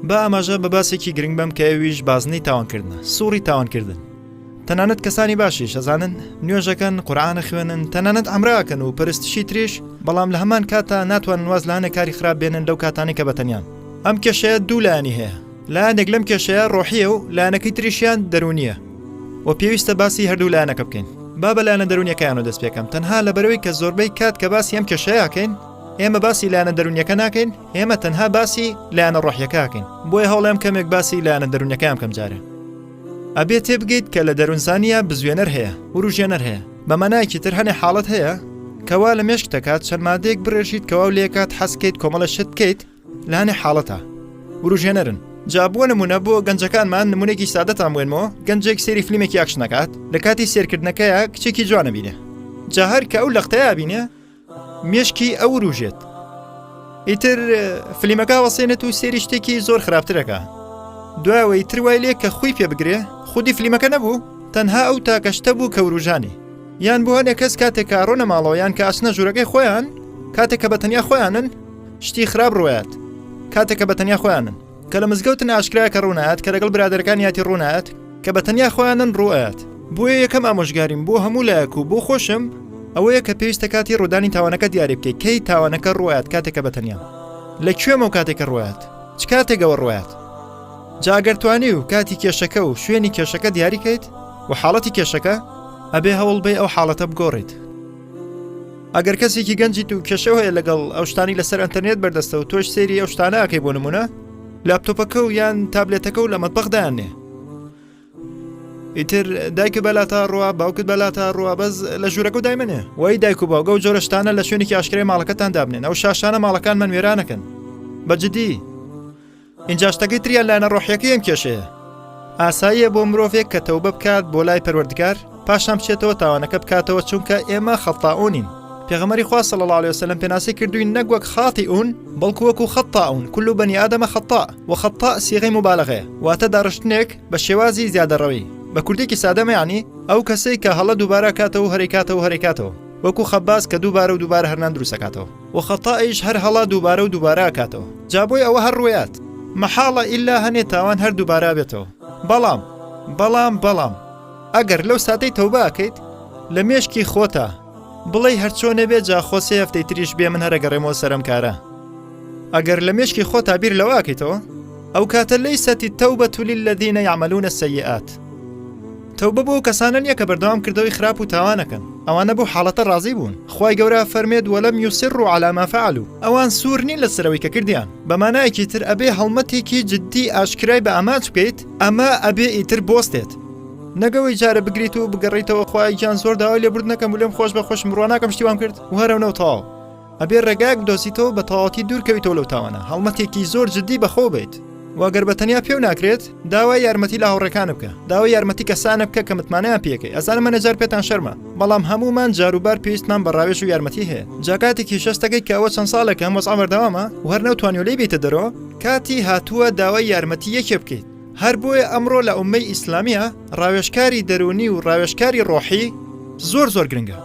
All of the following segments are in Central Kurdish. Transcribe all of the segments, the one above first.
با ئاماژە بە باسێکی گرنگ بم کە ئەویش بازنەی تاوانکردنە سوڕی تاوانکردن تەنانەت کەسانی باشی شەزانن نوێژەکەن قورآانە خوێنن تەنانەت ئەمراکەن و پرستشی تریش بەڵام لە هەمان کاتا ناتوان واز لاەنە کاری خراپ بێنن لەو کاتانی کە بەتەنیان ئەم کێشەیە دوولانی هەیە لایەنێک لەم کێشەیە ڕۆحیە و لایەنەکەی تریشیان دەرونیە و پێویستە باسی هەردوو لایەنەکە بکەین با بەلایەنە دەرونیەکەیان و دەست پێکەم تەنها لە بەرەوەی کە زۆربەی کات کە باسی ئەم کێشەیەکەین ئێمە باسی لایەنە دەرونیەکە ناکەین ئێمە تەنها باسی لایەنە ڕۆحیەکەکەین بۆیە هەوڵێم کەمێک باسی لایەنە دەرونیەکەم کەم جارێ ئەبێ تێ بگەیت کە لە دەرونزانە بزوێنەر هەیە وروژێنەر هەیە بەمەنایکی تر هەنێ حاڵەت هەیە کەوا لە مێشک دەکات چەند مادەیەک بڕێژیت کەوا لێکات حەسکەیت کۆمەڵە شت بکەیت لانێ حاڵەتە وروژێنەرن جا بۆ نمونە بۆ گەنجەکانمان نمونێکی سادەتان بێنمەوە گەنجێک سێری فلیمێکی یاکش نکات لە کاتی سێرکردنەکەیە کچێکی جوانە بینێ جا هەر کە ئەو لەختەیە بینێ مێشکی ئەو وروژێت ئیتر فلیمەکە وەسێنێت و سێری شتێکی زۆر خراپترەکە دوایەوەی تر وای لێ کە خۆی پێ بگرێ خودی فلیمەکە نەبوو تەنها ئەو تاکەشتە بوو کە وروژانی یان بۆ هەنێ کەس کاتێک کارۆنە ماڵەوەیان کە ئەسنە ژوورەکەی خۆیان کاتێک کە بە تەنیا خۆیانن شتی خراپ ڕوایات کاتێک کە بە تەنیا خۆیانن کە لە مزگەوتن ئاشکرا کە ڕوونات کە لەگەڵ برادەرەکانیاتی ڕوونات کە بە تەنیا خۆیانن ڕوایات بۆیە یەکەم ئامۆژگاریم بۆ هەموو لایەک و بۆ خۆشم ئەوەیە کە پێویستە کاتی ڕوودانی تاوانەکە دیاری بکەیت کەی تاوانەکە ڕوایات کاتێکە بە تەنیا لە کوێمە و کاتێکە ڕوایات چ کاتێکەوە ڕوایات جاگەرتوانی و کاتی کێشەکە و شوێنی کێشەکە دیاریکەیت و حاڵەتی کێشەکە ئەبێ هەوڵ بێ ئەو حاڵەتە بگۆڕیت ئەگەر کەسێکی گەنجیت و کێشە هەیە لەگەڵ ئەو شتانی لەسەر ئەتەرنێت بەردەستە و تۆش سێری ئەو شتانەکەی بۆ نمونە لاپتۆپەکە و یان تابلێتەکە و لە مەتبەغدایانێ ئیتر دایکە بەلا تا ڕوا باوکت بەلا تا ڕوا بەس لە ژوورەکە و دایمنێ وای دایک و باوگە و جۆرەشتانە لە شوێنێکی ئاشکرای ماڵەکەتان دابنێن ئەو شاشانە ماڵەکان من وێرانەکەن بەجددی ئینجا شتەکەی تریان لایەنە ڕۆحیەکەی ئەم کێشەیە. ئاساییە بۆ مرۆڤێک کە تەوبە بکات بۆ لای پەروەردگار پاشان بچێتەوە تاوانەکە بکاتەوە چونکە ئێمە خەتائونین پێغەمەری خوا صلی الله عليه وسلم پێناسی کردوین نەک وەک خاطئون بەڵکو وەکو خەتائون کل بنی آدم خطاء و خطاء صیغەی مبالغەیە واتە داڕشتنێک بە شێوازی زیادەڕەوی بە کوردێکی سادەمە یعنی ئەو کەسەی کە هەڵە دووبارە کاتەوە هەرەی کاتەوە هەرەی کاتەوە وەکو خەباز کە دووبارە و دووبارە هەرنان دروستەکاتەوە و خەتائیش هەر هەڵە دووبارە و دووبارە ئەکاتەوە جا بۆی ئەوە هەر ڕوێات مەحاڵە ئیلا هەنێ تاوان هەر دووبارە ئەبێتەوە بەڵام بەڵام بەڵام ئەگەر لەو ساتەی تەوبە ئەکەیت لە مێشکی خۆتا بڵێی هەرچۆنێ بێ جا خۆ سێ هەفتەی تریش بێ من هەرەگەڕێمەوە سەرم کارە ئەگەر لە مێشکی خۆ تا بیر لەوە ئەکەیتەوە ئەو کاتە لەی سەتی تەو بە تولی لە دینە یامەلوونە سەیئات تەوبە بۆ ئەو کەسانە نیە کە بەردەوام کردەوەی خراپ و تاوانەکەن ئەوانە بەو حاڵەتە ڕازی بوون خوای گەورە فەرمێت وەلەم یوسڕوا عەلا ما فعلوا ئەوان سوور نین لەسەر ئەوەی کە کردیان بە مانایەکی تر ئەبێ هەڵمەتێکی جدی ئاشکرای بە ئامانج بکەیت ئەمە ئەبێ ئیتر بۆستێت نەک ئەوەی جارە بگریت و بگەڕیتەوە خوای گیان زۆر داوای لێبوردنەکەم و لێم خۆش بە خۆشم بڕوا ناکەم شتی وام کرد و هەرەونە و تەواو ئەبێ ڕێگایەک بدۆزیتەوە بە تەواوەتی دوورکەویتەوە لەو تاوانە هەڵمەتێکی زۆر جددی بەخۆ بێت واگەر بە تەنیا پێو ناکرێت داوای یارمەتی لە هاوڕێکان بکە داوای یارمەتی کەسانە بکە کە متمانەیان پێکەی ئەزان منە جار پێتان شەرمە بەڵام هەمومان جاروبار پێویستمان بە ڕاوێژ و یارمەتی هەیە جاکاتێکی شەستەکەی کە ئەوە چەند ساڵێکە مەز ئەمەردەوامە وەرنەوتوانانی لێ بیتە دەرەوە کاتی هاتووە داوای یارمەتی یەکێ بکەیت هەر بۆیە ئەمڕۆ لە ئوممەی ئیسلامییە ڕاوێژکاری دەروونی و ڕاوێژکاری ڕۆحی زۆر زۆر گرنگە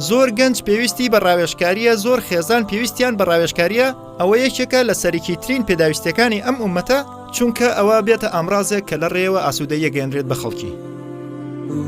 زۆر گەنج پێویستی بە ڕاوێژکاریە زۆر خێزان پێویستیان بە ڕاوێژکاریە ئەوە یەکێکە لە سەرکی ترین پێداویستەکانی ئەم ئومەتە چونکە ئەوە بێتە ئامرازێک کە لە ڕێەوە ئاسوودە یەگەێنرێت بە خەڵکی.